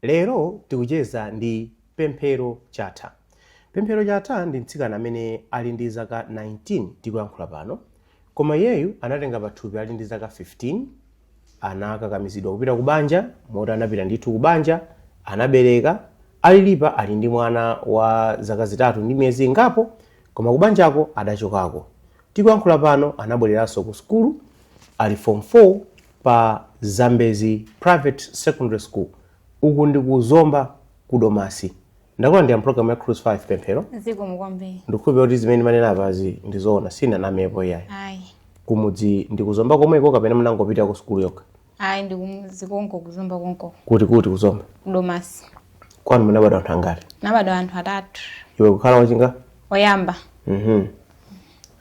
Lero tikucheza ndi Pemphero Chatha. Pemphero Chatha ndi mtsikana amene ali ndi zaka 19 tikuyankhula pano koma iyeyu anatenga pathupi ali ndi zaka 15, anakakamizidwa kupita ku banja moti anapita ndithu ku banja, anabereka, alili pano ali ndi mwana wa zaka zitatu ndi miyezi ingapo koma ku banjako adachokako. Tikuyankhula pano anabwereranso ku sukulu ali Form 4. pa Zambezi Private Secondary School. Uku ndi ku Zomba ku Domasi. Ndakulandira mpulogalamu ya Cruise 5 pemphero. zikomo kwambiri Ndikukhulupirira kuti zimene ndanena apazi ndi zoona sinanamepo iyayi. ayi Kumudzi ndi ku Zomba komweko kapena munangopita ku sukulu yokha. ayi ndi kumudzi konko ku Zomba konko Kuti kuti ku Zomba. domasi Kwanu munabadwa anthu angati? nabadwa anthu atatu Iwe kukhala wachingati? oyamba Mhm.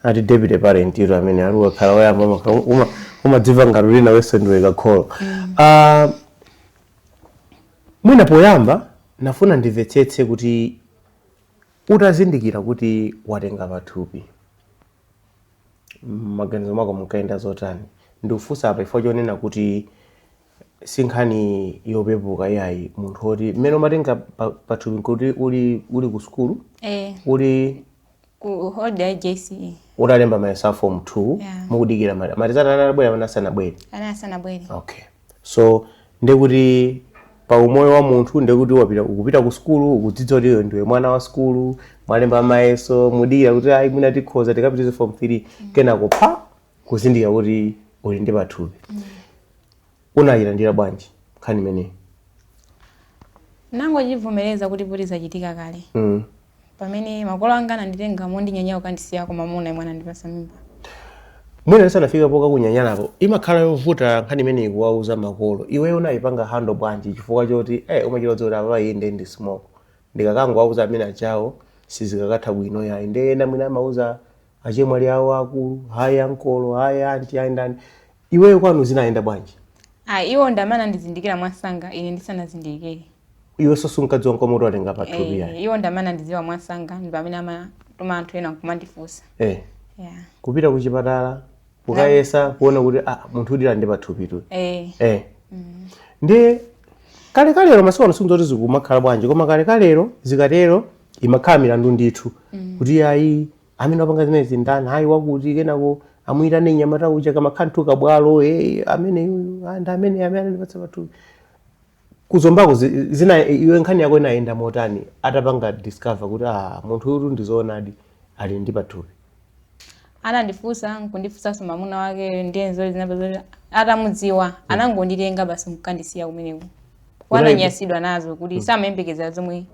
ati deputy parent iro amene ali wakhala woyamba maka- uma- umadzimva ngati uli nawenso ndiwe kakholo Ah, mwina poyamba nafuna ndimvetsetse kuti utazindikira kuti watenga pathupi m'maganizo mwako munkayenda zotani ndikufunsa apa chifukwa chonena kuti si nkhani yopepuka iyayi munthu woti mmene umatenga pa- pathupi kuti uli uli ku sukulu eh uli ku holiday ya JCE utalemba mayeso a form 2 Yeah. mukudikira ma- ma results anabwera kapena asanabwere ana asanabwere okay so ndekuti pa umoyo wa munthu ndekuti wapita ukupita ku sukulu ukudziwa kuti iwe ndiwe mwana wa sukulu mwalemba mayeso mukudikira kuti ayi mwina tikhoza tikapitilize form 3 kenako pa kuzindikira kuti uli ndi pathupi unayilandira bwanji nkhani imeneyi nangochivomereza kuti poti zachitika kale mm. pamene makolo anga ananditenga mondinyanyala kukandisiya kwa mamuna amene anandipatsa mimba mwina tisanafike poka kunyanyalapo imakhala yovuta nkhani imeneyi kuwauza makolo iweyo unayipanga handle bwanji chifukwa choti eh, umachita kudziwa kuti apa inde ndi simoko ndikakangowauza amenewa achawo sizikakatha bwino yayi ndiye ena mwina amauza achemwali awo akulu kaya ankolo kaya anti kaya ndani iweyo kwanu zinayenda bwanji ayi iwo ndi amene anandizindikira mwansanga ine ndisanazindikire iwenso sunkadziwa nkomwe kuti watenga pathupi yayi Eh, iwo ndi amene anandidziwa mwansanga ndi pamene amatuma anthu ena nkumandifunsa eh. yeah. kupita ku chipatala kukayeza kuona kuti ah, munthu ulidi ndi pathupitu eh, eh. ndiye kalekalelo masiku ano sindidziwa kuti zikumakhala bwanji koma kalekalelo zikatero imakhala milandu ndithu kuti ayi amene wapanga zimenezi ndani ayi wakuti kenako amuyitane nyamata uja kamakhala ndithu kabwalo eh, amene uyu, ah, ndi amene amene anandipatsa pathupi kuzombako zi- zina iwe nkhani yako inayenda motani atapanga discover kuti ah, munthu uyu ndizoonadi ali ndi pathupi anandifunsa nkundifunsanso mamuna wake ndiye zinapezeka zoti atamudziwa anangonditenga basi nkukandisiya kumeneko Unali- ananyansidwa nazo kuti samayembekeza zomwe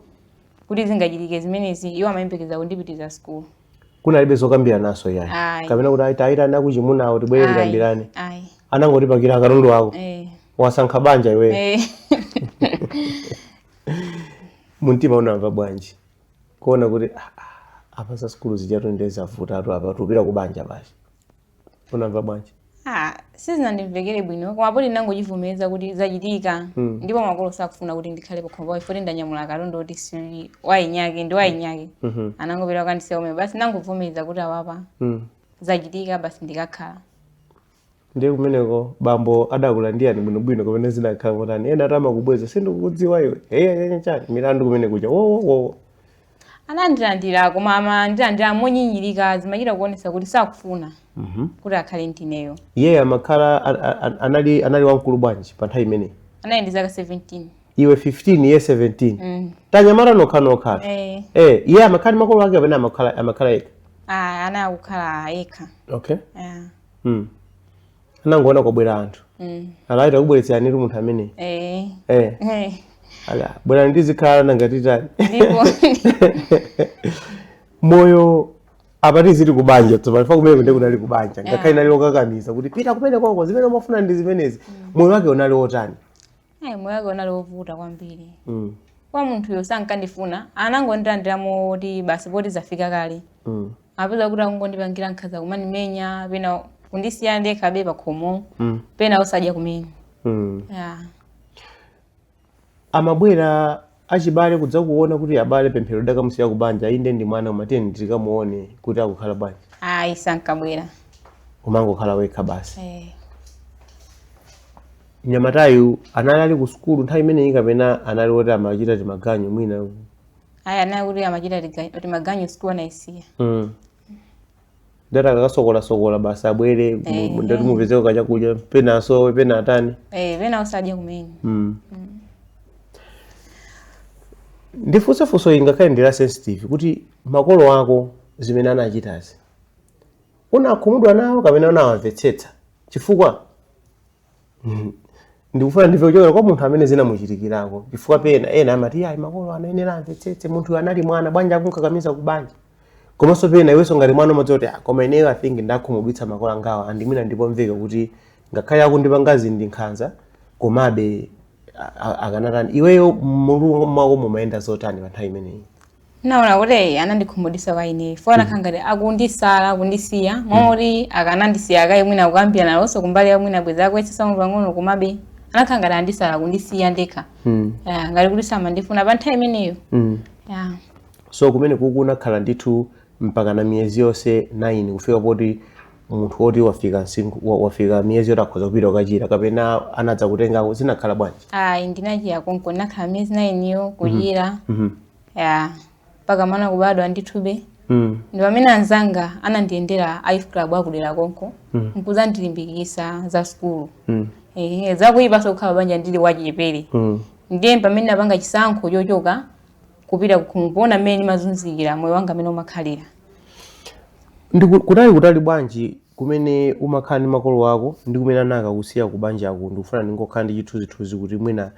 kuti zingachitike zimenezi iwo amayembekeza kundipitiriza sukulu kunalibe zokambirananso yayi Ayi. kapena kuti tayitanani akuchimunawo tibwere Ayi, tikambirane ayi anangoti pakira katundu wako eh, wasankha banja iweyo eh. mumtima unamva bwanji kuona kuti "Ah, ah, apa za sukulu zijatu nde zavutatu apa tikupita ku banja basi unamva bwanji Ah, sizinandimvekere bwino koma poti ndinangochivomereza kuti zachitika Mm. ndipo makolo sakufuna kuti ndikhale pakhomo pawo poti ndanyamula katundu kuti si wa mwinyake ndi wayinyake Mhm. anangopita kukandisiya komwe basi ndinangovomereza kuti ah apa Mm. zachitika basi ndikakhale ndiye kumeneko bambo adakulandirani bwinobwino kapena zidakhala motani ena ati amakubweza sindikukudziwa iwe eya chani milandu kumene kuja wowowowo anandilandira koma amandilandira monyinyirika zimachita kuonesa kuti sakufuna Mhm. kuti akhale ndineyo iye amakhala a- a- a- anali anali wamkulu bwanji pa nthawi imeneyi anali ndi zaka 17 iwe 15 iye 17 Mm. tanyamata tokhatokha Eh, eh iye amakhala ndi makolo ake kapena amakhala amakhala yekha ah, anali akukhala yekha okay Yeah. mm. anangoona kwabwera anthu mm. ah taita kukubweretseranitu munthu ameneyu eh. eh. eh. ah bwerani tizikhala nanga titani moyo apa tili kubanja tsopano chifukwa kumeneku nde kunali kubanja ngakhale linali lokakamiza kuti pita kumeneko zimene umafuna ndi zimenezi mm. moyo wake unali wotani Eh, moyo wake unali wovuta kwambiri mm. kwa munthuyo sankandifuna anangondilandira kuti basi poti zafika kale mm. upeza kuti akungondipangira nkhaza kumandimenya pena kundisiya ndekhabe pakhomo mm. pena osadya kumene mm. yeah. amabwera achibale kudzakuona kuti abale pemphero tidakamusiya ku banja inde ndi mwana koma tiyeni tikamuone kuti akukhala bwanji ayi sankabwera umangokhala wekha basi eh. mnyamatayu anali ali ku sukulu nthawi imeneyi kapena anali woti amachita timaganyu mwina ayi anali kuti amachita tiga- timaganyu sukulu anayisiya mm. ndati akasokolasokola basi abwere mu- Eh. mu- ndati mupezeko kachakudya pena asowe pena atani eh pena osadya kumene Mm. ndifunse funso ili ngakhale ndi la sensitive kuti makolo ako zimene anachitazi unakhumudwa nawo kapena unawamvetsetsa chifukwa Mhm. ndikufuna ndimve kuchokera kwa munthu amene zinamuchitikirako chifukwa pena ena amati ayi makolo anayenera amvetsetse munthu anali mwana bwanji akunkakamiza ku banja komanso pena iwenso ngati mwana umadziona kuti "Ah, koma ineyo i think ndakhumudwitsa makolo angawa and mwina ndizomveka kuti ngakhale akundipanga zinthu ndi nkhanza komabe a- a- akanatani iweyo mmutu mwako mumayenda zotani pa nthawi imeneyi naona kuti eyi anandikhumudwisa kwa ineyo fo anakhala ngati akundisiya moti akanandisiya kaye mwina kukambirana nawonso kumbali ya mwina bweza akumvetsetsa pang'ono komabe anakhala ngati andisala akundisiya ndekha Mm. Ya, ngati kuti samandifuna pa nthawi imeneyo Mm. ya so kumeneku unakhala ndithu mpaka na miyezi yonse 9 kufika poti munthu woti wafika msinkhu- wa- wafika miyezi yoti akhoza kupita kukachira kapena anadzakutengako zinakhala bwanji ayi ndinachira konko ndinakhala miyezi nayiniyo kuchira Mhm. ya mpaka mwana kubadwa ndithube mm. ndi pamene anzanga anandiyendera a youth club akudera konko mm. nkuzandilimbikisa za sukulu mm. e, zakuyipanso kukhala banja ndili wachichepere mm. ndiye pamene napanga chisankho chochoka kupita kuona mmene ndimazunzikira moyo wanga amene umakhalira ndi kutali kutali bwanji kumene umakhala ndi makolo ako ndi kumene anakakusiya kubanjako ndikufuna ndingokhala ndi chithunzithunzi kuti mwina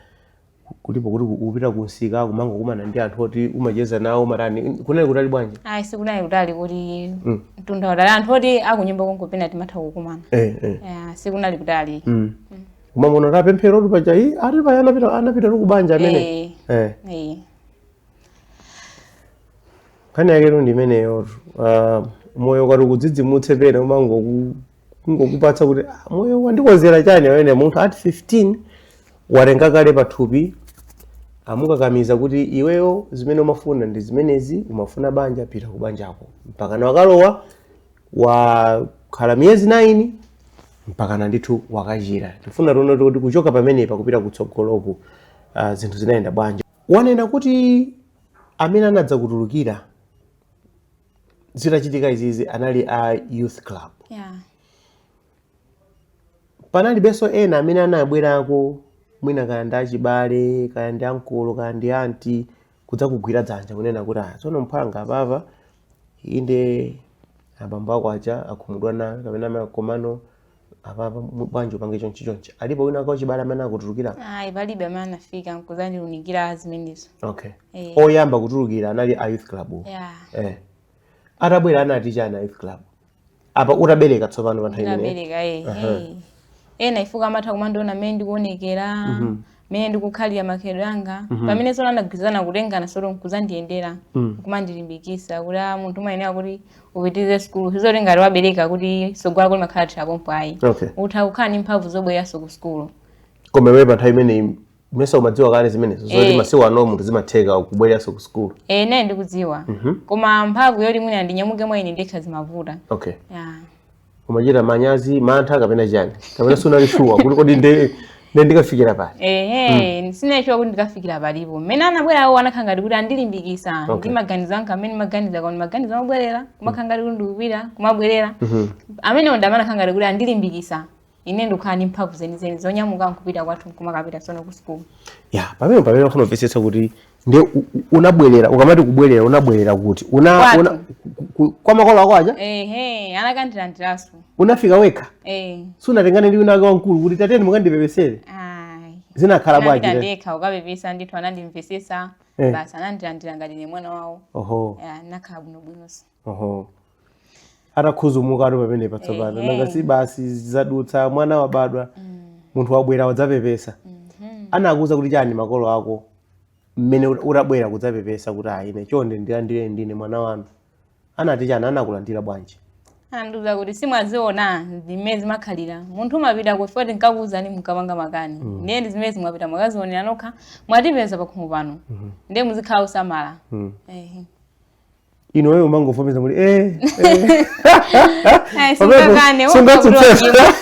kuli poti kupita kunsika kumangokumana ndi anthu oti umacheza nawo umatani kunali kutali bwanji ayi sikunali kutali koti mm. mtunda utali anthu oti akunyumba konko pena timatha kukumana eh, eh. Yeah, sikunali kutali mm. mm. kumamuona Tapemphero kuti paja ati paya anapita anapita ti kubanja amene eh. eh. eh. nkhani yaketu ndi imeneyotu uh, moyo ukati ukudzidzimutse pena umangoku kungokupatsa kuti "Ah, moyo wandikonzera chani amene munthu at 15 watenga kale pathupi amukakamiza kuti iweyo zimene umafuna ndi zimenezi umafuna banja pita ku banjako mpakana wakalowa wakhala miyezi 9 mpakana ndithu wakachira tifuna tione kuti kuchoka pamenepa kupita kutsogoloku uh, zinthu zinayenda bwanji wanena kuti amene anadzakutulukira zitachitika izizi anali a youth club yeah. panalibenso ena amene anabwerako mwina kaya ndi achibale kaya ndi ankolo kaya ndi anti kudzakugwira dzanja kunena kuti ah tsono mphwanga apapa inde abambo ako aja akhumudwa nawe kapena amayi komano apapa bwanji upange chonchi chonchi alipo wina wachibale amene akutulukira ayi palibe amene anafika nkuzandiunikira zimenezo okay Eh. oyamba kutulukira anali a youth club-wo. yeah. eh. atabwera anati chani a youth club apa utabereka tsopano pa nthawi imeneyo ndinabereka eh, eh. ena chifukwa amatha kumandiona mmene ndikuonekera mmene ndikukhalira makhalidwe anga Mhm. pamene sono anagwirizana kutengana sono nkuzandiyendera Mm. kumandilimbikisa kuti a munthu umayenera kuti upitirize sukulu sizoti ngati wabereka kuti sogolo lako limakhala lathera pompo ayi okay utha kukhala ndi mphamvu zobwereranso ku sukulu koma iweyo pa nthawi imeneyi mesa umadziwa kale zimenezo zoti Eh. masiku ano munthu zimatheka kubwereranso ku sukulu e nane ndikudziwa Mhm. koma mphamvu yoti mwina ndinyamuke mwa ine ndekha zimavuta okay ya umachita manyazi mantha kapena chani kapena sunali shuwa kuti kodi nde nde ndikafikira pali ehe mm. sinali shuwa kuti ndikafikira palipo mmene anabwera awo anakhala ngati kuti andilimbikisa Okay. ndi maganizo anga amene ndimaganiza koma maganizo amabwerera kumakhala ngati kuti ndikupita kumabwerera amenewo ndamene akhala ngati kuti andilimbikisa ine ndikukhala ndi mphamvu zenizeni zonyamuka nkupita kwathu nkumakapita sono ku sukulu ya pamene pamene ndikufuna kumvetsetsa kuti ndiye unabwerera ukamati kubwerera unabwerera kuti una, Kwathu. una ku- ku- kwa makolo ako aja ehe anakandilandiranso unafika wekha eh sunatengane ndi winawake wamkulu kuti tateni mukandipepesere ayi zinakhala bwanji Ndinapita eti? ndekha kukapepesa ndithu anandimvesesa Eh. basi anandilandira ngati ndine mwana wawo oho Ya, nakhala bwinobwinonso Oho. Atakhuzumukatu pamene patsopano. Ehe. Nanga si basi zadutsa mwana wabadwa. Munthu wabwera wadzapepesa. Anakuuza kuti chani makolo ako mmene ut- utabwera kudzapepesa kuti ayi ine chonde ndilandire ndine mwana wanu. Anati chani anakulandira bwanji? andiuza kuti simwaziona zimene zimakhalira munthu umapita kuti poti nkakuuzani mukapanga makani ndiye ndi zimene mwapita mwakazionera nokha mwatipeza pakhomo pano ndiye muzikhala osamala Mm. Ehe. ino iweyo umangovomereza muli eh eh Ai, Pamene sungakane, sungatsutsa. wakabulowa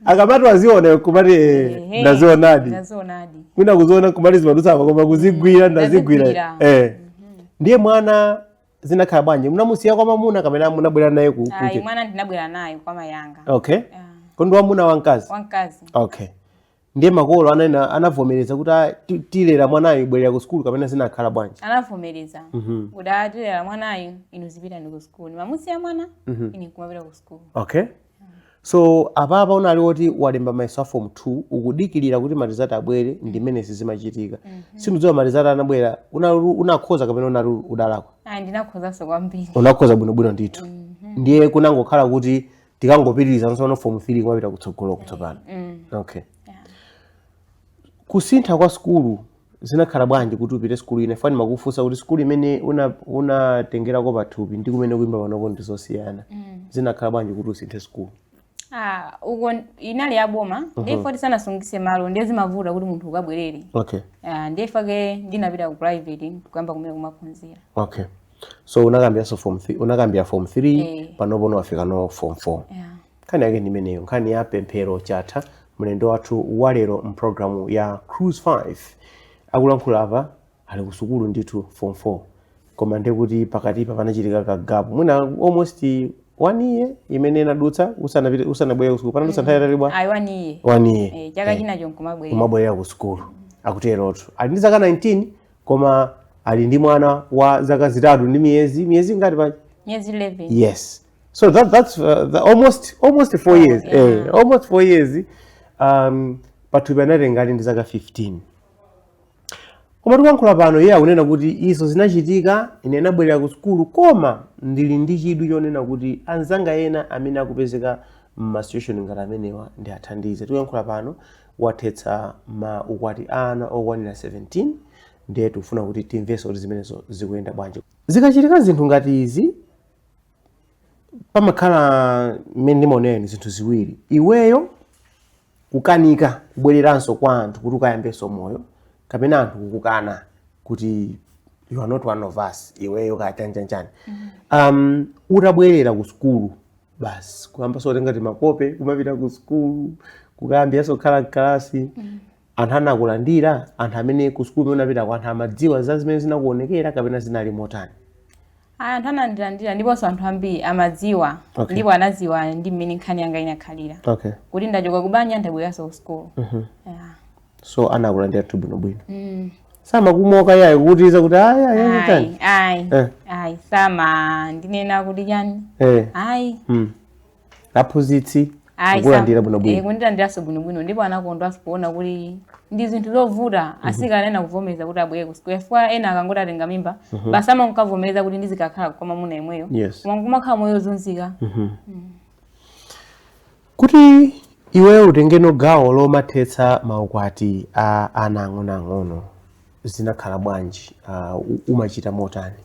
akamati waziona kumati eh, Ehe, ndazionadi ndazionadi kwina kuziona kumati zimadutsa koma kuzigwira ndazigwira ndazigwira. eh ndiye mwana zinakhala bwanji munamusiya kwa mamuna kapena munabwera naye ku ayi kunje mwana ndinabwera naye kwa mayanga okay Ah, kodi wamuna wamkazi wamkazi okay ndiye makolo ananena anavomereza kuti "Ah, ti- tilera mwanayu bwerera ku sukulu kapena zinakhala bwanji anavomereza Mhm. kuti atilera mwanayu inu zipitani ku sukulu mamusiya mwana Mhm. ine kumapita ku sukulu okay so apapa unali woti walemba mayeso a form 2 ukudikirira kuti marizati abwere ndi mmene zizimachitika simunadziwa marizati anabwera unakhoza kapena unali udalakwa ayi ndinakhozanso kwambiri unakhoza bwinobwino ndithu ndiye kunangokhala kuti tikangopitiriza tsopano form 3 kumapita kutsogoloko tsopano mm. okay yeah. kusintha kwa sukulu zinakhala bwanji kuti upite sukulu ina pajatu ndimakufunsa kuti sukulu imene unatengerako una pathupi ndi kumene ukuimba panopo ndi zosiyana mm. zinakhala bwanji kuti usinthe sukulu Ah, uko inali ya boma uh -huh. ndipoti sanasungise malo ndiye zimavuta kuti munthu ukabwerere okay ah, ndi chifukwa chake ndinapita ku private kuyamba kumene kumaphunzira okay so unakambiranso form 3 unakambira form 3 Eh. panopo wafikano form 4 yeah. nkhani yake ndimeneyo nkhani ya pemphero chatha mlendo wathu walero mpulogalamu ya Cruise 5 akulankhula apa ali kusukulu ndithu form 4 koma ndekuti pakatipa panachitika kagapu mwina almost one year imene inadutsa usanapite- usanabwere kusukulu panadutsa nthawi yaitali bwa ayi one year eh, chaka chinacho nkumabwerera kumabwerera ku sukulu akuterotu ali ndi zaka 19 koma ali ndi mwana wa zaka zitatu ndi miyezi miyezi ingati pa miyezi 11 yes so that, that's uh, the almost almost 4 oh, years yeah. eh, almost 4 years um pathupi anatenga ali ndi zaka 15 koma tikuyankhula pano iye akunena kuti izo zinachitika ine nabwerera ku sukulu koma ndili ndi chidwi chonena kuti anzanga ena amene akupezeka m'masituation ngati amenewa ndiwathandize tikuyankhula pano wathetsa maukwati a ana okwanira 17 ndiye tikufuna kuti timvenso kuti zimenezo zikuyenda bwanji zikachitika zinthu ngati izi pamakhala mmene ndimaonera ine zinthu ziwiri iweyo kukanika kubwereranso kwa anthu kuti ukayambenso moyo kapena anthu kukukana kuti you are not one of us iweyo kaya chanjanjani um, utabwerera ku sukulu basi kuyambaso kutenga timakope kumapita ku sukulu kukayambiranso kukhala mkalasi anthu anakulandira anthu amene ku sukulu imene unapita kwa anthu amadziwa za zimene zinakuonekera kapena zinali motani Ayi, anthu anandilandira ndiponso anthu ambiri amadziwa Okay. ndipo anadziwa ndi mmene nkhani yanga inakhalira okay kuti ndachoka kubanja ndabweranso ku sukulu Yeah. so anakulandiratu bwino bwino mm. samakumoka yayi kutiza kuti ayi ayi ayi chani ayi eh. ayi samandinena kuti chani eh. ayi mm. aphunzitsi kulandira bwino bwino eh, kundilandiraso bwino bwino ndipo anakondwaso kuona kuti ndi zinthu zovuta mhm. asikana ena kuvomereza kuti abwere ku sukulu chifukwa ena akangoti atenga mimba mhm. basi amakavomereza kuti ndizikakhala kwa mwamuna yemweyo koma kumakhala moyo ozunzika mhm. mm. Kuti iweyo utengeno gawo lomathetsa maukwati a ana ang'onoang'ono zinakhala bwanji? Uh, umachita motani?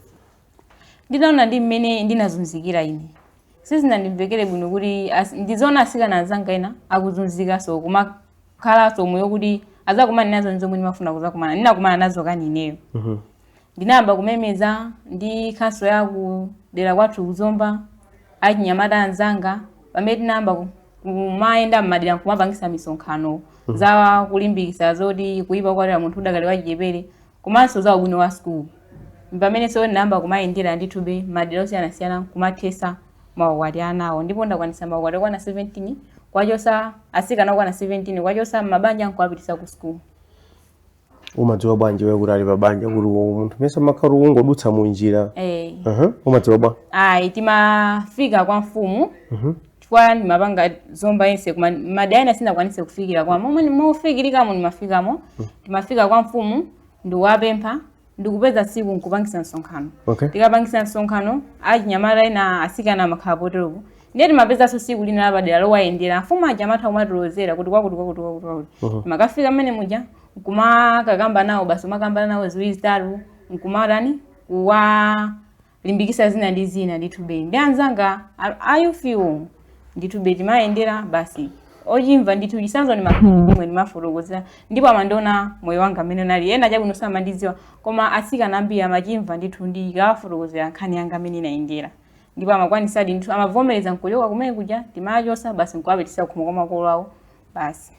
Ndinaona ndi mmene ndinazunzikira ine sizinandimvekere bwino kuti ndiziona asikana anzanga ena akuzunzikanso kumakhalanso moyo okuti azakumana nazo nzomwe ndimafuna kuzakumana ndinakumana nazo kani ineyo mm -hmm. ndinayamba kumemeza ndi khansala wa ku dera kwathu ku Zomba achinyamata anzanga pamene tinayamba ku- kumayenda m'madera nkumapangisa misonkhano za kulimbikisa zoti kuyipa kwatira munthu udakali wachichepere komanso za ubwino wa sukulu pamenenso ndinayamba kumayendera ndithube madera osiyanasiyana kumathesa maukwati anawo ndipo ndakwanisa maukwati okwana 17 kwachosa asikana okwana 17 kwachosa m'mabanja nkuwapitisa ku sukulu umadziwa bwanji iwe kuti ali pa banja kuti uwo munthu mesa umakhala ungodutsa mu njira eh Aha, umadziwa bwa ayi timafika kwa mfumu chifukwa ndimapanga zomba yense koma madera ena sindinakwanise kufikira koma momwe mofikirikamo ndimafikamo timafika kwa mfumu ndikuwapempha ndikupeza siku nkupangisa msonkhano okay tikapangisa msonkhano achinyamata ena asikana amakhala poteropo ndiye timapezanso tsiku lina lapadera lowayendera amfumu aja amatha kumatilozera kuti kwakuti kwakuti kwakuti kwakuti Mhm. timakafika mmene muja nkumakakamba nawo basi umakambana nawo ziwiri zitatu nkumatani kuwalimbikisa zina ndi zina ndithu be ndi anzanga a- a youthwo ndithu be timayendera basi ochimva ndithu chisanzo ndimakhala ine ndimawafotokozera ndipo amandiona moyo wanga mmene unali ena chabwino samandidziwa koma atsikana ambiri amachimva ndithu ndikawafotokozera nkhani yanga mmene inayendera ndipo amakwanisadi ndithu amavomereza nkuchoka kumene kuja timawachosa basi nkuwapitisa kukhomo kwa makolo awo basi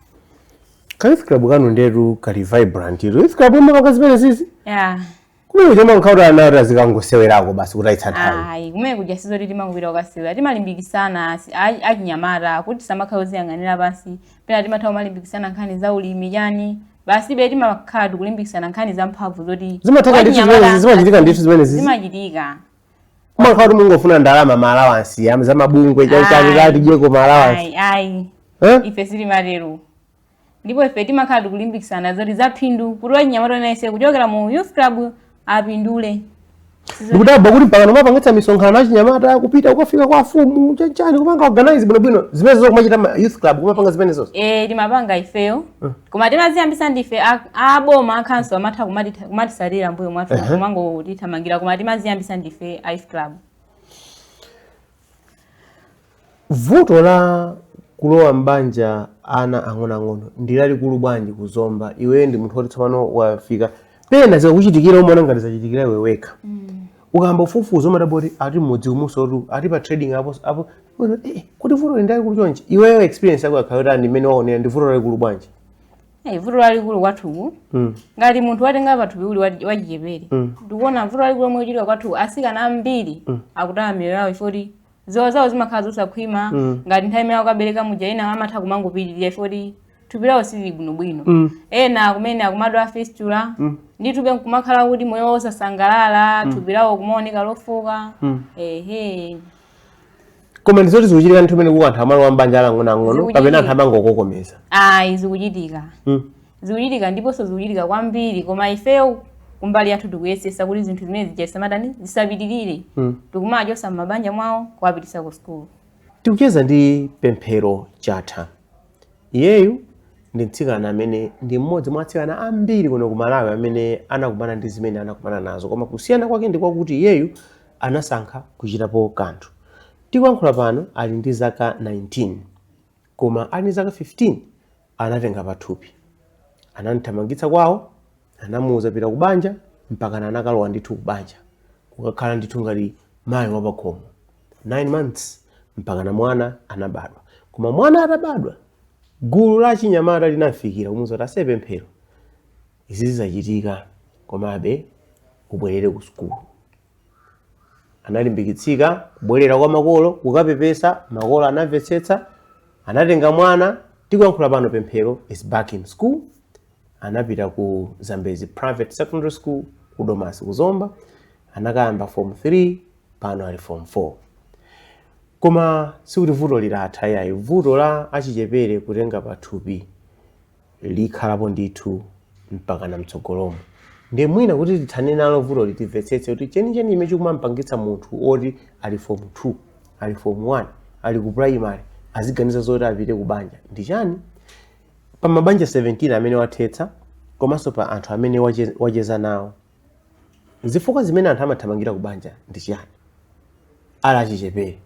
kayouth club kanu ndetu kali vibrant ilo youth club imapanga zimenezizi yeah. kumene kuja kumakhala kuti ana ati azikangosewerako basi kutayitsa nthawi ayi kumene kuja sizoti timangopita kukasewera timalimbikisana asi- a- achinyamata kuti asamakhale oziyang'anira pansi pena timatha kumalimbikisana nkhani za ulimi chani basi be timakhala tikulimbikisana nkhani za mphamvu zoti zimatheka ndithu wachinyamata- zimenezi zimachitika ndithu zimenezi zimachitika Mumakhala kuti mungofuna ndalama maalawansi za mabungwe chani ati tidyeko maalawansi. Ayi, ayi. Eh? Ife sitimatero. Ndipo ife timakhala tikulimbikisana. Zoti zaphindu. Kuti wachinyamata nayenso kuchokera mu youth club apindule. Ndikudabwa kuti mpakana mumapangitsa misonkhano achinyamata kupita ukafika kwa mfumu. Chanichani kumango organize bwino bwino. Zimenezizo kumachita youth club kumapanga zimenezozo. Eh, timapanga ifeyo. Eh. koma timaziyambisa ndife a- aboma akhanso amatha kumati- kumatisatira mbuyo mwathu Ehe. kumangotithamangira koma timaziyambisa ndife youth club vuto la kulowa m'banja ana ang'onoang'ono ndi lalikulu bwanji kuzomba iweyo ndi munthu woti tsopano wafika pena zikakuchitikira umaona ngati zachitikira iwe wekha ukayamba kufufuza umadabwa kuti ati mmudzi umusotu ati pa trading apo apo eh, kuti vuto ndi lalikulu chonchi iweyo experience yako yakhala yotani mmene waonera ndi vuto lalikulu bwanji Eh, vuto lalikulu kwathuku Mm. ngati munthu watenga pathupi uli wachi- wachichepere ndikuona vuto lalikulu lomwe lichitika kwathuku asikana ambiri akutaya miyoyo yawo chifukwa ziwalo zawo zimakhala zosakhwima Mm. ngati nthawi imene akabereka muja ena amatha kumangopitirira ifoti thupi lawo silili bwinobwino Mm. ena kumene akumadwala fistula Mm. ndithube nkumakhala kuti moyo wawo osasangalala thupi lawo kumaoneka lofooka Mm. ehe koma ndi zoti zikuchitika ndithu zimenezi kuti anthu amalowa mbanja ali ang'onoang'ono Zikuchitika. kapena anthu amangokokomeza ayi zikuchitika Mm. zikuchitika ndiponso zikuchitika kwambiri koma ifeyo kumbali yathu tikuyesetsa kuti zinthu zimene zija zisamatani zisapitirire mm. tikumawachotsa m'mabanja mwawo kuwapititsa ku sukulu tikucheza ndi pemphero chatha iyeyu ndi mtsikana amene ndi mmodzi mwa atsikana ambiri kuno ku malawi amene anakumana ndi zimene anakumana nazo koma kusiyana kwake ndi kwakuti iyeyu anasankha kuchitapo kanthu tikuyankhula pano ali ndi zaka 19 koma ali ndi zaka 15 Anatenga pathupi, anamthamangitsa kwawo, anamuuza pita kubanja mpakana anakalowa ndithu kubanja kukakhala ndithu ngati mayi wapakhomo 9 months mpakana mwana anabadwa. Koma mwana atabadwa, gulu la achinyamata linamfikira kumuuza kuti ase pemphero izizi zachitika komabe ubwerere ku sukulu. analimbikitsika kubwerera kwa makolo kukapepesa makolo anamvetsetsa anatenga mwana tikuyankhula pano pemphero is back in school anapita ku zambezi private secondary school ku domasi ku zomba anakayamba form 3 pano ali form 4 koma sikuti vuto litatha ayi vuto la achichepere kutenga pathupi likhalapo ndithu mpakana mtsogolomo nde mwina kuti tithane nalo vutoli timvetsetse kuti chenicheni chimene chikumampangitsa munthu woti ali form 2 ali form 1 ali ku primary aziganiza zoti apite ku banja ndi chani pa mabanja 17 amene wathetsa komanso pa anthu amene wache- wacheza nawo zifukwa zimene anthu amathamangira ku banja ndi chiyani ali achichepere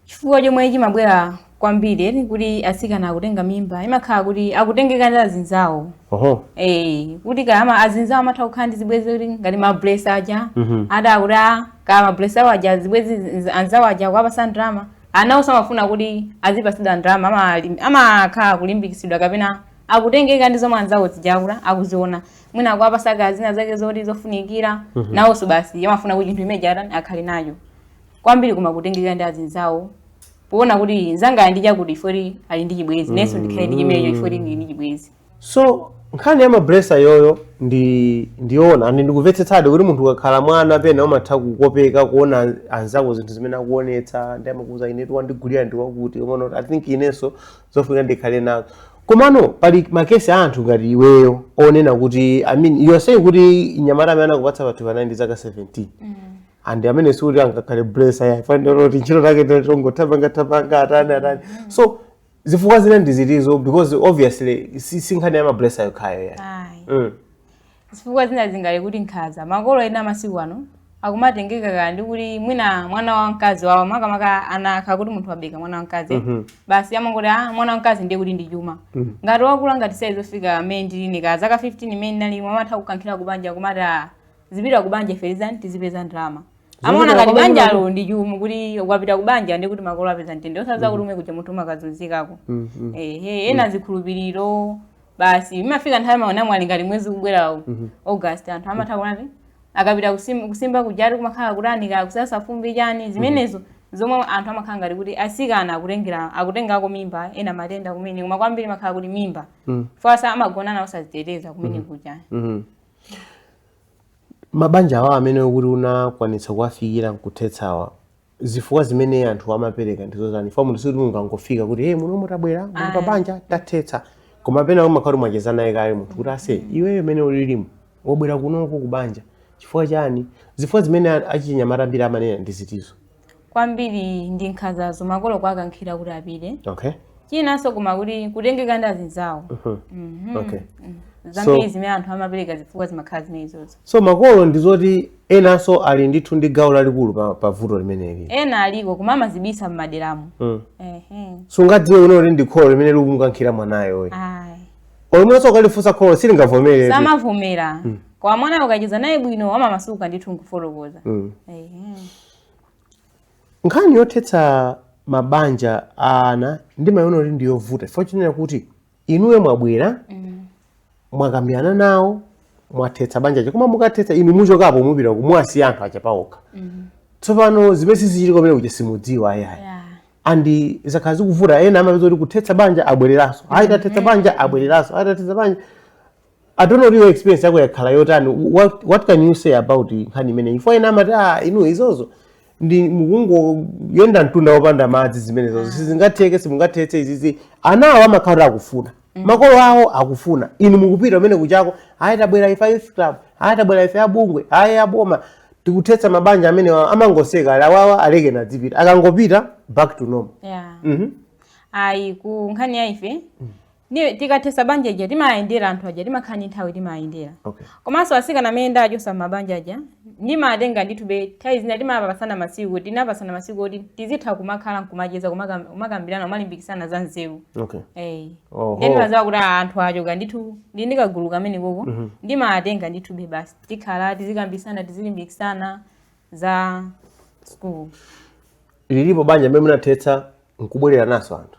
chifukwa chomwe chimabwera kwambiri ndi kuti atsikana akutenga mimba imakhala kuti akutengeka ndi azinzawo oho Eh, kuti kaya azinzawo amatha kukhala ndi zibwenzi kuti ngati mablesa aja Mhm. ati akuti "Ah, kaya mablesa awo aja zibwenzi nz- anzawo aja kuwapatsa ndalama nawonso amafuna kuti azipatsidwa ndalama amalim- amakhala kulimbikitsidwa kapena akutengeka ndi zomwe anzawo zijakula akuziona mwina akuwapatsa kaya zina zake zoti zofunikira nawonso basi amafuna kuti chinthu chimene chija atani akhale nacho kwambiri koma kutengeka ndi azinzawo poona kuti nzanga ali ndi chakuti ifoti ali ndi chibwenzi inenso ndikhale ndi chimenecho ifoti ndili ndi chibwenzi so nkhani ya mablesa iyoyo ndi ndiona ndi ndikumvetsetsadi kuti munthu ukakhala mwana pena umatha kukopeka kuona anzako zinthu zimene akuonetsa ndi amakuuza inetu wandigulira ndi wakuti umaona kuti i think inenso zofunika ndikhale nazo komano pali makesi a anthu ngati iweyo onena kuti i mean you are saying kuti nyamata amene anakupatsa pathupi anali ndi zaka 17 and amene sikuti angakhale blesa ayi fanira kuti ntchito take tongotapanga tapanga atani atani so zifukwa zina ndi zitizo because obviously si si nkhani ya mablesa yokhayo ayi Ayi. mm. Zifukwa zina zingakhale kuti nkhaza. Makolo ena masiku ano akumatengeka kaya ndi kuti mwina mwana wa mkazi wawo makamaka anaakazi kuti munthu wabereka mwana wa mkazi Mhm. basi amangoti ah mwana wa mkazi ndiye kuti ndi chuma Mhm. ngati wakula ngati saizi yofika mmene ndili ine ka zaka 15 mmene ndinali amatha kukankhira kubanja kumati ah zipita kubanja ferizani tizipeza ndalama amaona ngati banjalo ndi chuma kuti ukapita kubanja ndiye kuti makolo apeza mtendere osadziwa kuti komwe kuja munthu umakazunzikako Mhm. ehe ena zikhulupiriro basi imafika nthawi ma anamwali ngati mwezi ukubwera uwu Mhm. august anthu amatha kunena kuti akapita kusim- kusimba kujati kumakhala kutani kaya kusasa fumbi chani zimenezo zomwe anthu amakhala ngati kuti asikana akutengera akutengako mimba ena matenda kumene koma kwambiri imakhala kuti mimba Mm. chifukwa amagonana osaziteteza kumene kuja Mhm. mabanja awa amene ukuti unakwanitsa kuwafikira nkuthetsawa zifukwa zimene anthu amapereka ndi zotani chifukwa munthu sikuti mungangofika kuti hey, muno mwatabwera muli pabanja tathetsa koma pena umakhala mwacheza naye kaye munthu kuti aise iweyo mene ulilimu wabwera kunoko ku banja chifukwa chani zifukwa zimene a- achinyamata ambiri amanena ndi zitizo kwambiri ndi nkhanzazo makolo kuwakankhira kuti apite okay chinanso koma kuti kutengeka ndi azinzawo Mhm. okay zambiri zimene anthu amapereka zifukwa zimakhala zimenezozo so makolo ndizoti enanso ali ndithu ndi gawo lalikulu pa, pa vuto limeneli ena aliko koma amazibisa mmaderamu mm. sungadziwe iwe kuti ndi kholo limene likumukankhira mwanayo olo mwinanso ukalifunsa kholo silingavomere samavomera mm. koma mwana ukacheza naye bwino amamasuka ndithu nkufotokoza mm. nkhani yothetsa mabanja a ana ndimayiona kuti ndiyovuta chifukwa chonena kuti inuyo mwabwera mm. mwakambirana nawo mwathetsa banja lija koma mukathetsa inu muchokapo mupita muwasiya anthu aja pawokha mm. tsopano zimene zizichitika kumene kuja simudziwa ayayi yeah. and zakhala zikuvuta ena amapezeka kuti kuthetsa banja abwereranso ayi tathetsa mm-hmm. banja abwereranso ayi tathetsa banja I don't know your experience yako yakhala yotani what, what can you say about nkhani imeneyi chifukwa ena amati ah inu izozo ndiye mukungoyenda mtunda wopanda madzi zimenezozo sizingatheke simungathetse izizi ana awo amakhala akufuna makolo awo akufuna inu mukupita kumene kujako ayi tabwera ife a youth club ayi tabwera ife abungwe ayi aboma tikuthetsa mabanja amene wa- amangoseka ali awawa alekeni azipita akangopita back to normal yeah. Mhm. ayi ku nkhani ya ife Ni- tikathesa banja lija timayendera anthu aja timakhala ndi nthawi timayendera Okay. komanso asikana amene ndachosa m'mabanja aja ndimawatenga ndithube nthawi zina timapasana masiku tinapasana masiku oti tizitha kumakhala nkumacheza kumakam- kumakambirana kumalimbikisana za nzeru Okay. Eh. Oho. Ndiye ndimadziwa kuti ah, anthu achoka ndithu ndi ndikagulu kamenekoko ndimatenga ndithube basi tikhala tizikambisana tizilimbikisana za school lilipo banja limene munathetsa nkubwererananso anthu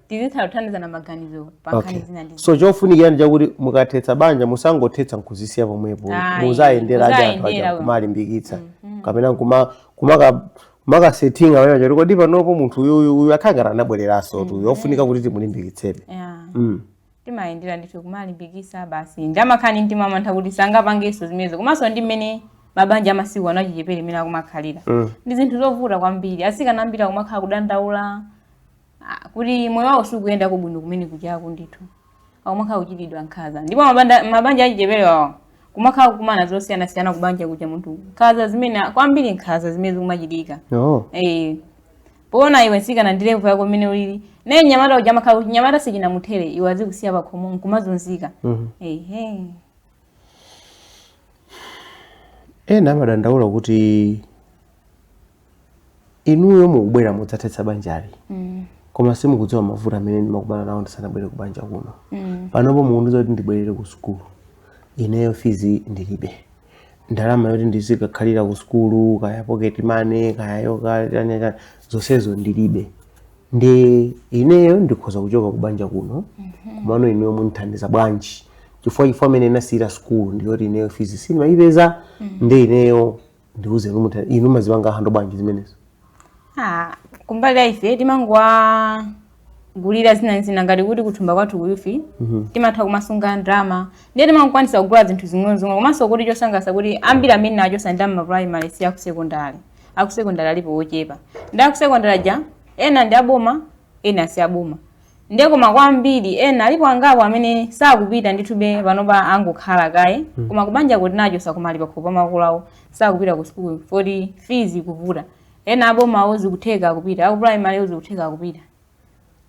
tizitha kuthandizana maganizo pa nkhani Okay. zina ndi so chofunikira ndi chakuti mukathetsa banja musangothetsa nkuzisiya pomwepo Ayi, muziwayendera ndi anthu aja muziwayendera. kumawalimbikitsa kapena kuma- kumaka- kumakasethinga pamene choti kodi panopo munthu uyuyu uyu akhala ngati anabwereranso tu yofunika kuti timulimbikitsebe Yeah. Mm. timawayendera ndithu kumawalimbikitsa basi ndi amakhala ndi timantha kuti sangapangenso zimenezo komanso ndi mmene mabanja amasiku ano achichepere imene akumakhalira Mm. ndi zinthu zovuta kwambiri asikana ambiri akumakhala kudandaula Ah, kuti moyo wawo sukuyenda bwino kumene kujako ndithu akumakhala kuchitidwa nkhaza ndipo mabanda- mabanja achichepere awa amakhala kukumana zosiyanasiyana kubanja kuja munthu nkhaza zimene kwambiri nkhaza zimene zikumachitika oh. Eh, poona iwe nsikana ndi levu yako mmene ulili naye nyamata uja amakhala kuti chinyamata sichinamuthere iwe azikusiya pakhomo nkumazunzika Mhm. ehe ena amadandaula kuti inuyo mukubwera mudzathetsa banjali mm. koma simukudziwa mavuto amene ndimakumana nawo ndisanabwere ku banja kuno mm. panopo mukundiuza kuti ndibwerere ku sukulu ineyo fizi ndilibe ndalama yoti ndizikakhalira ku sukulu kaya pocket money kaya yokataneta zonsezo ndilibe nde ineyo ndikhoza kuchoka ku banja kuno mhm. komano ineyo munthandiza bwanji chifukwa chifukwa imene ndinasiyira sukulu ndiyoti ineyo fizi sindimayipeza mm. nde ineyo ndiuze inu mutha inu mumazipanga hando bwanji zimenezo Ah, kumbali ya ife timangowagulira zina zina ngati kuti kuthumba kwathu kuyufi timatha kumasunga ndalama ndiye timangokwanisa kugula zinthu zing'onozing'ono komanso kuti chosangalatsa kuti ambiri amene tinawachosa ndi ama primary si akusekondari akusekondari alipo ochepa ndi akusekondari aja ena ndi aboma ena si aboma nde koma kwambiri ena alipo angapo amene sakupita ndithube panopa angokhala kaye mm. koma kubanja ko tinawachosako koma ali pakhomo pa makolo awo sakupita ku sukulu poti fees kuvuta ena abomawo zikutheka akupita aku primary zikutheka akupita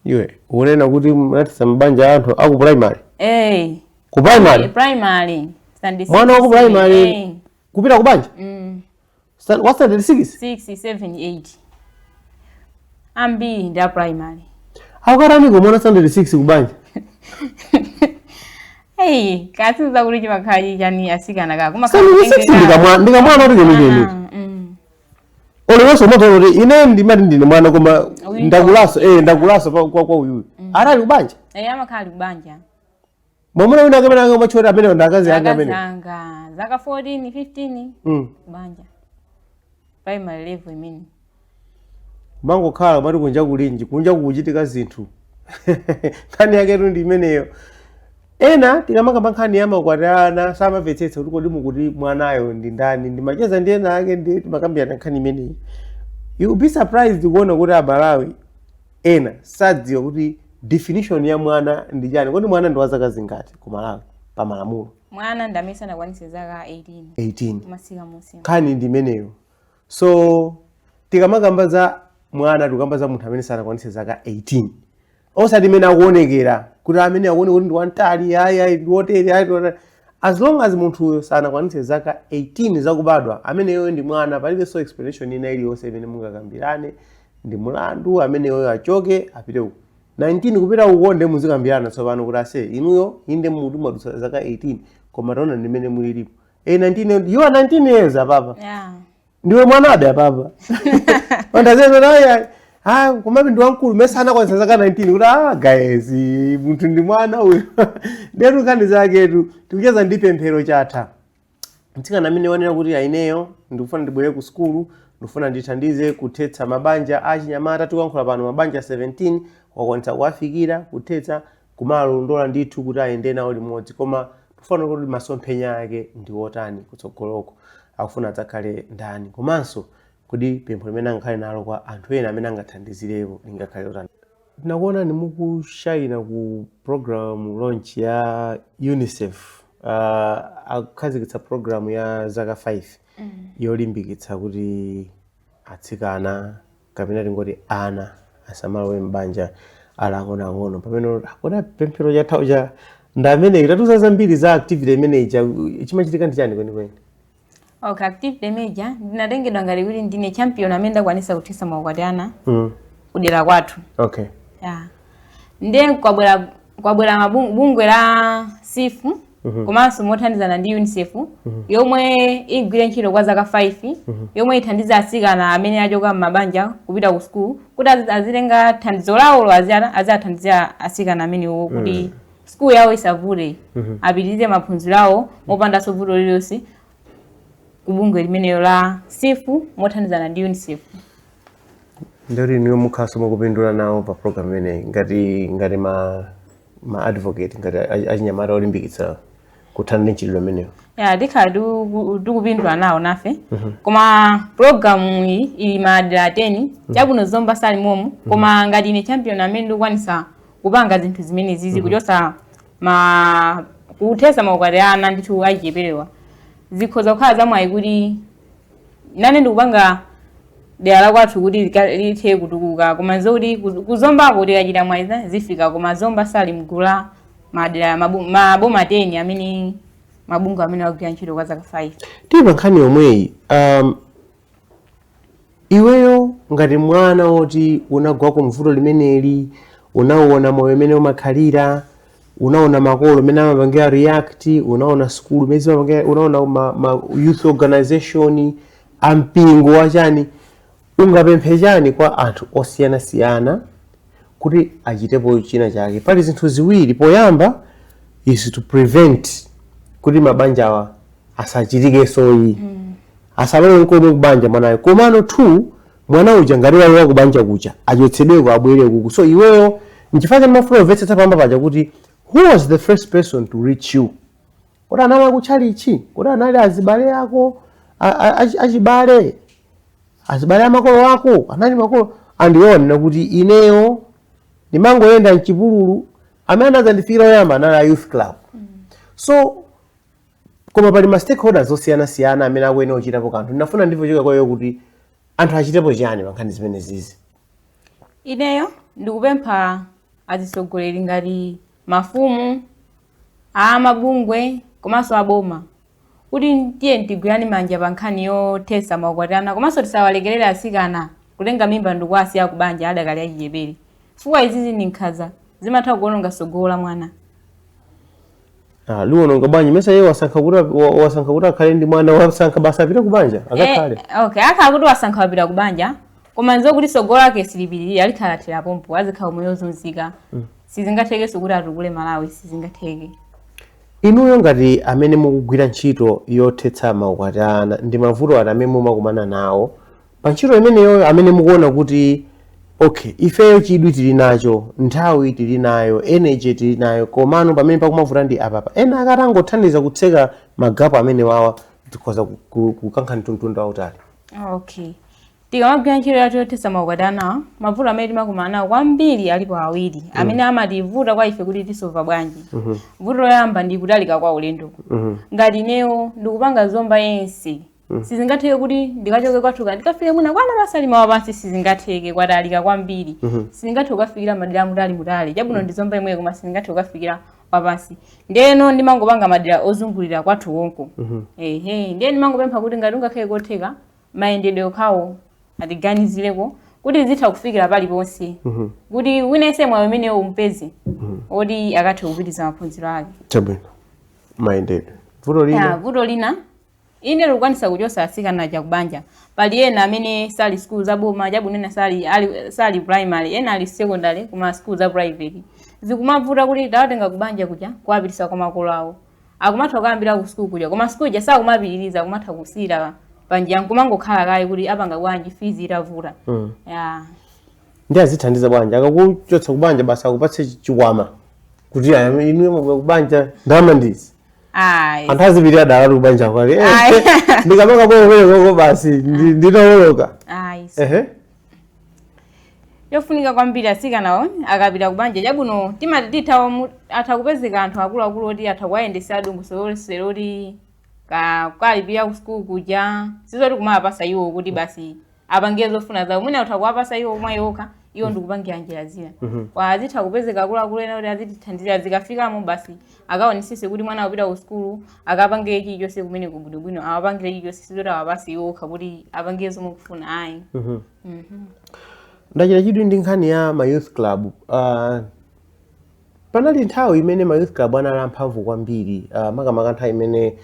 iwe ukunena kuti munathetsa mabanja anthu aku primary eh ku primary primary mwana wa ku primary eh. kupita kubanja mm. Stand- wa standard 6 6 7 8 ambiri ndi a primary akakatani kamwana standard 6 kubanja eyi kakuziwa kuti chimakhala chichani katsikana ka koma standard 6 ndikamwa- ndikamwana kuti kenikeniki olo weso umatoona kuti ine ndimati ndine mwana koma Uyu ndakulaso eh ndakulaso pa- kwa kwa uyuyu atali kubanja eyi amakhala ali kubanja mwamuna winanso amene angamatchule kuti amene ndi akazi anga amuna anga zaka 14 15 mm. banja primary level imene mangokhala mmati kunja kulinji kunja kukuchitika zinthu nkhani yake ndi imeneyo ena tikamakamba nkhani ya makwati a ana samamvetsetsa kuti kodi mukuti mwanayo ndi ndani ndimacheza ndi ena ake ndi timakambirana nkhani imeneyi you be surprised kuona kuti amalawi ena sadziwa kuti definition ya mwana ndi chani kodi mwana ndi wa zaka zingati ku malawi pa malamulo mwana ndi amene sanakwanitse zaka 18 18 kumatsika munsi nkhani ndi imeneyo so tikamakamba za mwana tikukamba za munthu amene sanakwanitse zaka 18 osati amene akuonekera kuti amene akuoneka kuti ndi wamtali ayi ayi ndi wotere ayi ndi wotere. as long as munthuyo sanakwanitse zaka 18 zakubadwa ameneyo ndi mwana palibenso explanation ina iliyonse imene mungakambirane ndi mulandu ameneyo achoke apite uko 19 kupita uko nde muzikambirana tsopano kuti ase inuyo inde muti mwadutsa zaka 18 koma taona ndimene mulilipo e 19 yo- you are 19 years apapa Yeah. ndiwe mwanabe apapa ndacheza naye ah komabe ndi wamkulu mesa anakwanisa zaka 19 kuti ah guys munthu ndi mwana uyo ndetu nkhani zaketu tikucheza ndi pemphero chatha mtsikana amene wanena kuti ai ineyo ndikufuna ndibwerere ku sukulu ndikufuna ndithandize kuthetsa mabanja achinyamata tikuyankhula pano mabanja 17 wakwanitsa kuwafikira kuthetsa kumawalondola ndithu kuti ayende nawo limodzi koma tufuna kuti masomphenya ake ndi otani kutsogoloko akufuna adzakhale ndani komanso kodi pempho limene angakhale nalo kwa anthu ena amene angathandizirepo lingakhale otani Tinakuonani mukushaina ku program launch ya UNICEF uh, akukhazikitsa program ya zaka 5 yolimbikitsa kuti atsikana kapena tingoti ana asamalowe m'banja ali ang'onoang'ono pamene akuona pemphero chatha uja ndi ameneyi tatiuza zambiri za activity imeneyi cha- chimachitika ndi chani kwenikweni okay activity imene ija ndinatengedwa ngati kuti ndine champion amene ndakwanisa kuthesa maukwati ana mm. kudera kwathu okay yeah. nde kwabwera kwabwera bungwe la sifu mm -hmm. komanso mothandizana ndi unicef mm -hmm. yomwe igwire ntchito kwa zaka 5 mm -hmm. yomwe ithandiza asikana amene achoka m'mabanja kupita ku sukulu kuti azitenga thandizo lawolo aziathandizira asikana amenewo kuti mm -hmm. sukulu yawo isavute Mhm. apitirize maphunziro awo mopandanso vuto lililonse ku bungwe limenelo la sifu mothandizana ndi unicef ndiye kuti inuyo mukhalaso mukupindula nawo pa program imeneyi ngati ngati ma ma advocate ngati a- achinyamata olimbikitsa kuthana ndi mchitidwe umenewu ya tikhala tikupindula nawo nafe mhm. koma programu iyi ili madera 10 mhm. chabwino zomba sali momo mhm. koma ngati ine champion amene ndikukwanisa kupanga zinthu zimenezizi kuchosa ma kuthesa maukwati ana ndithu achicheperewa zikhoza kukhala zamwayi kuti nane ndikupanga dera la kwathu kuti lika- lithe kutukuka koma zokuti kuz- kuzombako tikachita mwayiza zifika koma zomba sali mgula madera mabu- maboma 10 amene mabungwe amene akugwira ntchito kwa zaka 5 tili pa nkhani yomweyi um, iweyo ngati mwana woti unagwa ku mvuto limeneli unauona moyo umene umakhalira unaona makolo mene amapangira react unaona sukulu mene zimapangira unaona ma, ma youth organization ampingo wachani ungapemphe chani kwa anthu osiyanasiyana kuti achitepo china chake pali zinthu ziwiri poyamba is to prevent kuti mabanjawa asachitikenso ayi mm. asalowe nkomwe kubanja mwanayo komano two Mwana uja ngati walowa kubanja kuja achotsedweko abwere kuku so iweyo nchifukwa chani mafuna kumvetsetsa poyamba paja kuti who was the first person to reach you kuti anali akutchalichi kuti anali azibale ako achibale azibale amakolo ako anali makolo atandiona kuti ineyo ndimangoyenda mchipululu amene anazandifikira oyamba anali a youth club mm. so Koma pali ma stakeholders osiyana siyana amene akuyenera kuchitapo kanthu. Ndinafuna ndimve kuchokera kwa iweyo kuti anthu achitepo chiyani pa nkhani zimenezizi. Ineyo ndikupempha azitsogoleri ngati mafumu, a mabungwe komanso a boma kuti tiyeni tigwirane manja pa nkhani yothetsa maukwati a ana komanso tisawalekerere atsikana kutenga mimba ndikuwasiya ku banja adakali achichepere chifukwa izizi ndi nkhanza, zimatha kuononga tsogolo la mwana. Ah, liwononga bwanji mesa iye wasankha kuti wasankha kuti akhale ndi mwana wasankha basi apite ku banja eh, akakhale eh, okay akhala kuti wasankha wapita ku banja koma nzo kuti sogolo lake silipitirira likhala lathera pompo azikhala moyo ozunzika mm. sizingathekenso kuti atukule malawi sizingatheke inuyo ngati amene mukugwira ntchito yothetsa maukwati ana ndi mavuto ati amene mumakumana nawo pa ntchito imeneyoyo amene mukuona kuti okay ifeyo chidwi tili nacho nthawi tili nayo energy tili nayo komano pamene pakumavuta ndi apapa ena akatangothandiza kutseka magapo amenewawa tikhoza ku- ku- kukankha mtunda wautali okay tikamagwira ntchito yathu yothetsa maukwati ana mavuto amene timakumana nawo kwambiri alipo awiri amene amativuta kwa ife kuti tisova bwanji vuto loyamba ndi kutalika kwa ulendo ngati ineyo ndikupanga zomba yonse Mm. sizingatheke kuti ndikachoke kwathu kuja ndikafike mwina kwa Mwanapasalima wapansi sizingatheke kwatalika kwambiri Mhm. sindingathe kukafikira madera amutali mutali chabwino ndi zomba imweyo koma sindingathe kukafikira wapansi ndeno ndimangopanga madera ozungulira kwathu konko Mhm. ehe ndiye ndimangopempha kuti ngati kungakhale kotheka mayendedwe okhawo atiganizireko kuti tizitha kufikira paliponse Mhm. kuti winense mwayi umenewo aupeze oti akathe kupitiriza maphunziro ake chabwino mayendedwe vuto Ya, lina vuto lina Inde likukwanisa kuchosa atsikana aja kubanja. Pali ena amene sali school za boma chabwino ena sali, ali, sali primary ena ali secondary kuma school za private. Zikumavuta kuti tawatenga kubanja kuja kuwapitisa kwa makolo awo. Akumatha kukayambira ku school kuja koma school ija sakumapitiriza akumatha kusiyira panjira nkumangokhala kaye kuti apanga bwanji fees itavuta. Mm. Yeah. ndi azithandiza bwanji akakuchotsa kubanja basi akupatse chikwama kuti aya, inuyo mwabwera kubanja ndalama ndizi ayi anthu azipitira dala kubanja kwake Eh, Ayi. eh, ndikamanga pokopereko basi ndi- nditawoloka ayi ehe chofunika kwambiri asikanawo akapita kubanja chabwino timati titha omu- atha kupezeka anthu akuluakulu oti atha kuwayendesa dongosolo lonselo oti ka- kalipira ku sukulu kuja sizoti kumawapasa iwo kuti basi apange zofuna zawo mwina utha kuwapasa iwo mwa iwo okha iwo mm. ndikupangira njira zina mm-hmm. kwa azitha kupezeka akuluakulu ena kuti azitithandizira zikafika mwa basi akaonesese kuti mwana akupita ku sukulu akapange chilichonse kumene kubwinobwino awapangire chilichonse sizoti awapase iwo okha kuti apange zomwe akufuna ayi mm-hmm. mm-hmm. ndachita chidwi ndi nkhani ya ma youth club uh, Panali nthawi imene ma youth club anali amphamvu kwambiri uh, makamaka nthawi imene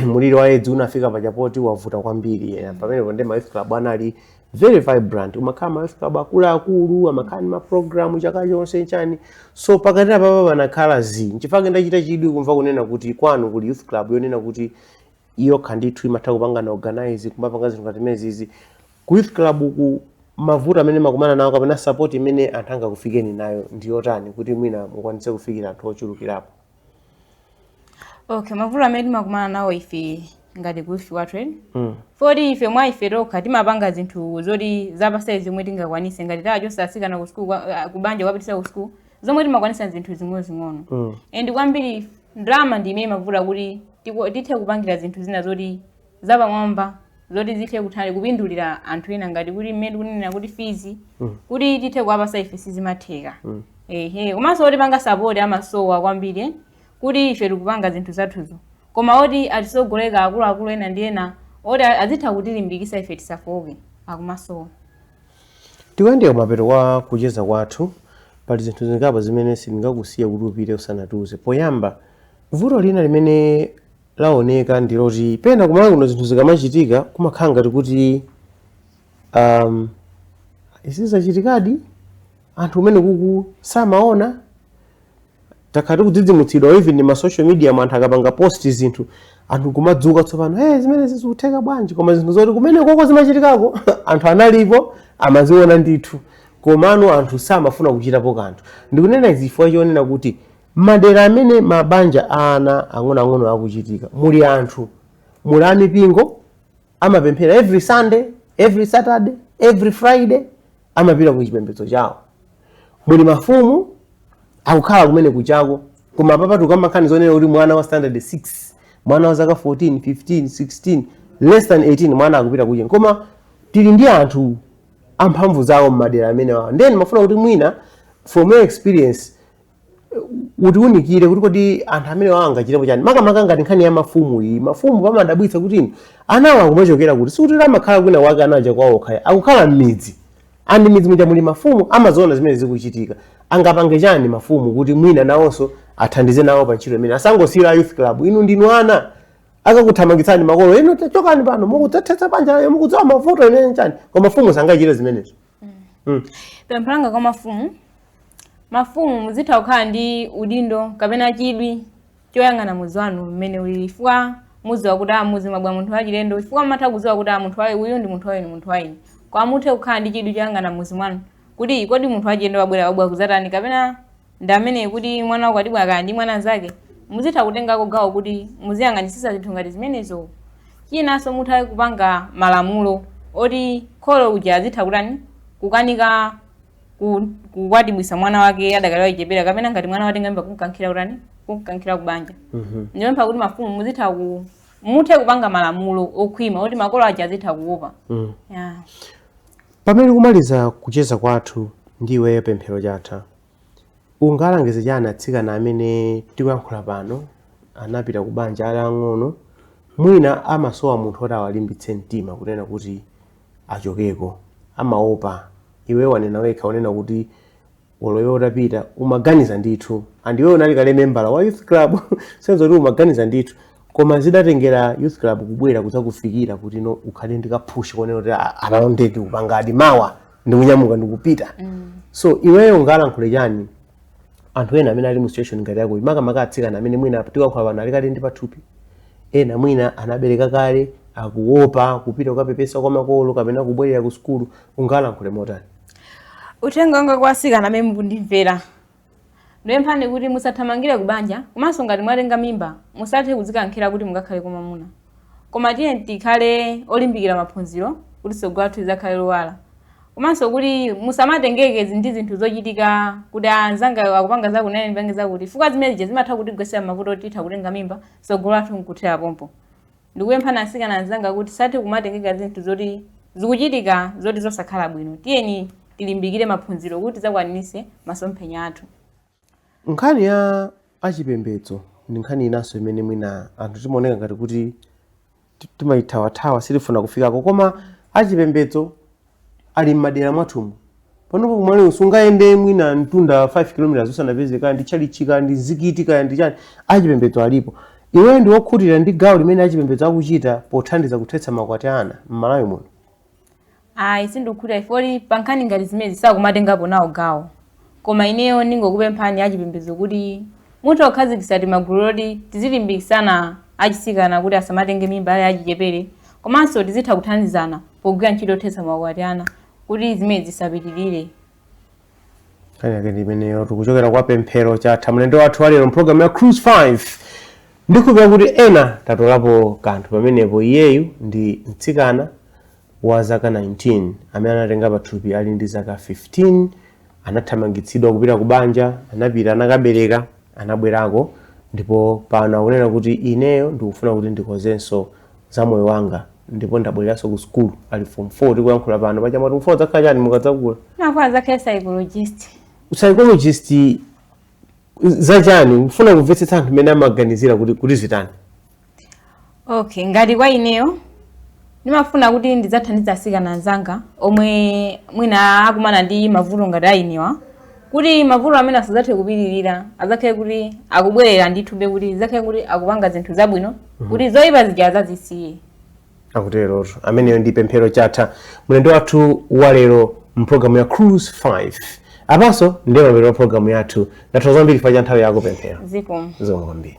muliri wa edzi unafika paja poti wavuta kwambiri yeah. pamenepo ndi ma youth club anali very vibrant kumakhala ma youth club akuluakulu amakhala ndi maprogramu chaka chonse chani so pakati apapa panakhala zi nchifukwa ndachita chidwi kumva kunena kuti kwanu kuli youth club yonena kuti iyo yokha ndithu imatha kupangana organize kumapanga zinthu ngati zimenezi Ku youth club ku mavuto amene mumakumana nawo kapena support imene anthu angakufikeni nayo ndi yotani kuti mwina mukwanitse kufikira anthu ochulukirapo? Okay, mavuto amene timakumana nawo ife ngati kuife wathu eni mm. poti ife mwa ife tokha timapanga zinthu zoti zapasai zomwe tingakwanise ngati tachosa asikana kusukulu ah, kubanja kuwapitisa kusukulu zomwe timakwanisa zinthu zing'onozing'ono mm. and kwambiri ndalama ndi imene imavuta kuti tithe kupangira zinthu zina zoti zapamwamba zoti zithe kuthani kupindulira anthu ena ngati kuti mmene tikunenera kuti fees mm. kuti tithe kuwapasa ife sizimatheka mm. ehe komanso otipanga sapoti amasowa kwambiri eh, kuti ife tikupanga zinthu zathuzo koma oti atisogolera akuluakulu ena ndi ena oti azitha kutilimbikisa ife tisafooke akumasowa tikuyandikira kumapeto kwa kucheza kwathu pali zinthu zingapo zimene sindingakusiye kuti upite usanatiuze poyamba vuto lina limene laoneka ndi loti pena ku Malawi kuno zinthu zikamachitika kumakhala ngati kuti um, izi zachitikadi anthu kumenekuku samaona takhala tikudzidzimutsidwa even ndi ma social media mu anthu akapanga post zinthu anthu kumadzuka tsopano hey, zimene zizikutheka bwanji koma zinthu zoti kumenekoko zimachitikako anthu analipo amaziona ndithu komano anthu samafuna kuchitapo kanthu ndikunena izi chifukwa chonena kuti M'madera amene mabanja a ana ang'onoang'ono akuchitika, muli anthu, muli a mipingo, amapemphera every Sunday, every Saturday, every Friday, amapita ku chipembedzo chawo. Muli mafumu, akukhala kumene kujako, koma apapa tukamba nkhani zonena kuti mwana wa standard 6, mwana wa zaka 14, 15, 16, less than 18, mwana akupita kucheni. Koma tili ndi anthu amphamvu zawo m'madera amenewawa. Ndiye ndimafuna kuti mwina from your experience, utiunikire kuti kodi anthu amenewa angachitepo chani makamaka ngati nkhani ya mafumu iyi mafumu pamadabwitsa kuti inu anawa akumachokera kuti sikuti amakhala kwina wake anaja kwawoko akukhala m'midzi and m'midzi muja muli mafumu amaziona zimene zikuchitika angapange chani mafumu kuti mwina nawonso athandize nawo pa ntchito imene asangosiyira youth club inu ndinu ana akakuthamangitsani makolo inu chokani pano mukudzathetsa banja mukudziwa mavuto ine chani koma mafumu sangachite zimenezo Mm. pempho langa kwa mafumu mafumu muzitha kukhala ndi udindo kapena chidwi choyang'ana mudzi wanu mmene ulili chifukwa mudziwa kuti a m'mudzi mwabwera munthu wachilendo chifukwa mumatha kudziwa kuti a mtundu wa uje uyu ndi mtundu wa ine mtundu wa ine koma muthe kukhala ndi chidwi choyang'ana m'mudzi mwanu kuti kodi munthu wachilendo wabwera wabwera kudzatani kapena ndi ameneyi kuti mwana wakwatibwa kaya ndi mwana mnzake muzitha kutengako gawo kuti muziyang'anitsitsa zinthu ngati zimenezo chinanso mutha kupanga malamulo oti kholo uja azitha kutani kukanika ku- kukwatibwisa mwana wake adakali wachichepere kapena ngati mwana watenga mimba kumkankhira kutani kumkankhira kubanja ndipempha kuti mafumu muzitha ku muthe kupanga malamulo okhwima oti makolo aja azitha kuopa Mm. yeah. Pamene tikumaliza kucheza kwathu ndi iweyo Pemphero Chatha, ungalangize chani atsikana amene tikuyankhula pano anapita ku banja ali ang'ono, mwina amasowa munthu oti awalimbitse mtima kunena kuti achokeko, amaopa, iweyo wanena wekha kunena kuti olo iwe utapita umaganiza ndithu and iwe unali kale membala wa youth club sizoti umaganiza ndithu koma zidatengera youth club kubwera kudzakufikira kuti no ukhale ndi ka push konena kuti "Ah, apano nde tikupangadi mawa ndikunyamuka ndikupita so iweyo ungalankhule chani anthu ena amene ali mu situation ngati yako makamaka atsikana amene mwina tikuyankhula pano ali kale ndi pathupi ena mwina anabereka kale akuopa kupita kukapepesa kwa makolo kapena kubwerera ku sukulu ungalankhule motani uthenga wanga kwa asikana amene mukundimvera ndipemphani kuti musathamangire kubanja komanso ngati mwatenga mimba musathe kudzikankhira kuti mukakhale kwa mwamuna koma tiye tikhale olimbikira maphunziro kuti tsogolo lathu lidzakhale lowala komanso kuti musamatengeke zi- ndi zinthu zochitika kuti anzanga akupanga zakuti nane ndipange zakuti chifukwa zimenezi zimatha kutigwetsera m'mavuto oti titha kutenga mimba tsogolo lathu nkuthera pompo Ndikupemphani atsikana anzanga kuti tisathe kumatengeka zinthu zoti zikuchitika zoti zosakhala bwino. Tiyeni tilimbikire maphunziro kuti tidzakwaniritse masomphenya athu. Nkhani ya achipembedzo ndi nkhani inanso imene mwina anthu timaoneka ngati kuti ti- timaithawathawa sitifuna kufikako koma achipembedzo ali m'madera mwathumu panopo ku Malawi usungayende mwina mtunda 5 km usanapeze kaya ndi tchalitchi kaya ndi mzikiti kaya ndi chani achipembedzo alipo iweyo ndi wokhutira ndi gawo limene achipembedzo akuchita pothandiza kuthetsa makwati a ana m'Malawi muno ayi sindikukhutira ifyoti pankhani ngati zimenezi sakumatengapo nawo gawo Koma ineyo ndingokupemphani achipembedzo kuti muthe kukhazikitsa timagulu toti tizilimbikitsana achitsikana kuti asamatenge mimba ali achichepere komanso tizitha kuthandizana pogwira ntchito yothetsa maukwati a ana kuti zimenezi zisapitirire. Nkhani yake ndi imeneyo tikuchokera kwa Pemphero Chatha mlendo wathu wa lero mpulogalamu ya Cruise 5 ndikupemphera kuti ena tatolapo kanthu pamenepo iyeyu ndi mtsikana wa zaka 19 amene anatenga pathupi ali ndi zaka 15 anathamangitsidwa kupita ku banja anapita anakabereka anabwerako ndipo pano akunena kuti ineyo ndikufuna kuti ndikozenso za moyo wanga ndipo ndabwereranso ku sukulu ali form 4 tikuyankhula pano pachamati mufuna mudzakhale chani mukadzakula ndikufuna ndidzakhale psychologist psychologist zachani kufuna kumvetsetsa anthu mmene amaganizira kuti kuti zitani okay ngati kwa ineyo ndimafuna kuti ndidzathandize atsikana anzanga omwe mwina akumana ndi mavuto ngati a inewa kuti mavuto amene asadzathe kupitirira adzakhale kuti akubwerera ndithudi kuti adzakhale kuti akupanga zinthu zabwino kuti zoyipa zija adzazisiye akuterotu ameneyo ndi Pemphero Chatha mlendo wathu wa lero mpulogalamu ya Cruise 5 apanso ndiye mapeto a pulogalamu yathu ndathokoza kwambiri chifukwa cha nthawi yako Pemphero zikomo zikomo kwambiri